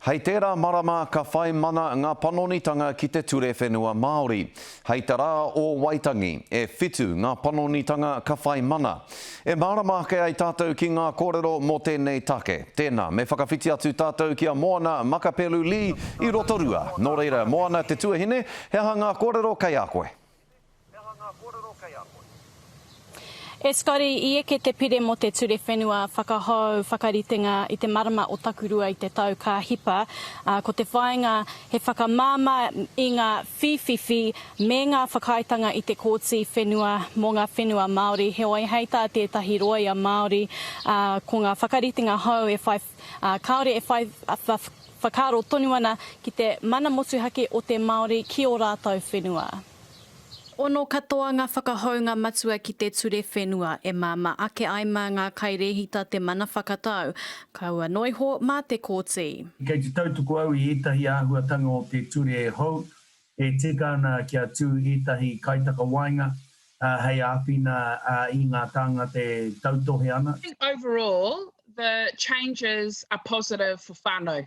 Hei tērā marama ka whai mana ngā panonitanga ki te ture whenua Māori. Hei te rā o Waitangi, e whitu ngā panonitanga ka whai mana. E mārama ake ai tātou ki ngā kōrero mō tēnei take. Tēnā, me whakawhiti atu tātou ki a Moana Makapelu-Lee i Rotorua. Nō reira, Moana te tuahine, he aha ngā kōrero kei a koe? He aha ngā kōrero kei a koe? E Scotty, i eke te pire mō te ture whenua whakahou whakaritenga i te marama o Takurua i te tau ka hipa, ā, ko te whāinga he whakamāmā i ngā whīwhiwhi me ngā whakaaetanga i te Kōti Whenua mō ngā whenua Māori. Heoi, hei tā tētahi rōia Māori, ā, ko ngā whakaritenga hou e whai, ā, kāore e whai whakaaro tonu ana ki te mana motuhake o te Māori ki ō rātou whenua. Ono katoa ngā whakahounga matua ki te ture whenua e māmā ake ai mā ngā kairēhita te mana whakatau, kaua noa iho mā te kōti. Kei te tautuku au i ētahi āhuatanga o te ture hou e tika ana kia tū ētahi kaitakawaenga hei āwhina i ngā tāngata e tautohe ana. I think overall the changes are positive for whānau.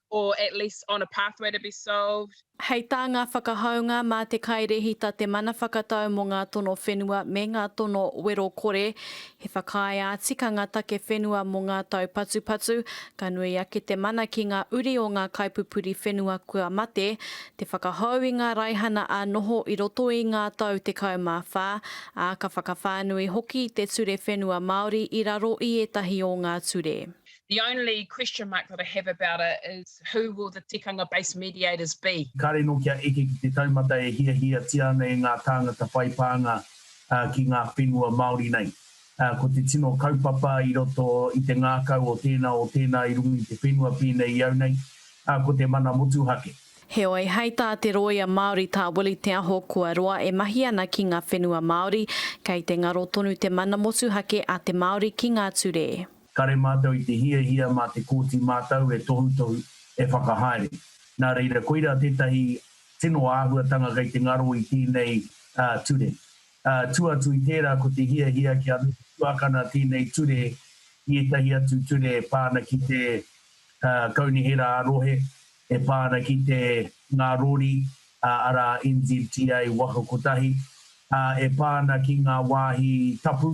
or at least on a pathway to be solved. Hei tā ngā whakahaunga mā te kairēhita te mana whakatau mō ngā tono whenua me ngā tono wero kore, he whakaae ā-tikanga take whenua mō ngā taupatupatu, ka nui ake te mana ki ngā uri o ngā kaipupuri whenua kua mate, te whakahou i ngā raihana ā-noho i roto i ngā tau 14, ā, ka whakawhānui hoki te ture whenua Māori i raro i ētahi o ngā ture. The only question mark that I have about it is who will the tikanga based mediators be? Kāre nō kia eke ki te taumata e hiahiatia ana e ngā tāngata whai pānga ki ngā whenua Māori nei. Ko te tino kaupapa i roto i te ngākau o tēnā o tēnā i runga i te whenua pēnei i au nei, ko te mana motuhake. Heoi, hei tā te rōia Māori tā Willie Te Aho kua roa e mahi ana ki ngā whenua Māori, kei te ngaro tonu te mana motuhake a te Māori ki ngā ture. Kare mātou i te hiahia mā te Kōti Mātau e tohutohu, e whakahaere. Nā reira, koirā tētahi tino āhuatanga kei te ngaro i tēnei ture. Tua atu i tērā, ko te hiahia kia tuakana tēnei ture ki ētahi atu ture e pā ana ki te Kaunihera ā-Rohe, e pā ana ki te Ngā Rori, arā, NZTA waka kotahi, ā, e pā ana ki ngā wāhi tapu,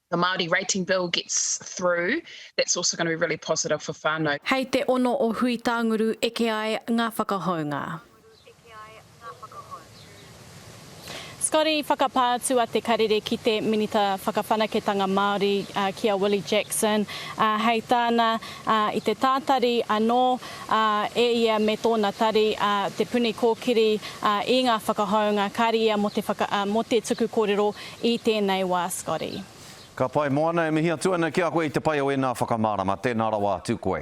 the Māori rating bill gets through, that's also going to be really positive for whānau. Hei te ono o Huitānguru eke ai ngā whakahounga. Scotty, whakapā atu a Te Karere ki te Minita Whakawhanaketanga Māori, ki a Willie Jackson, hei tāna, i te tātari anō e ia me tōna tari, Te Puni Kōkiri, i ngā whakahounga, kāre ia mō te tuku kōrero I tēnei wā, Scotty. Ka pai moana, e mihi atu ana ki a koe i te pai o ēnā whakamārama, tēnā rawa atu koe.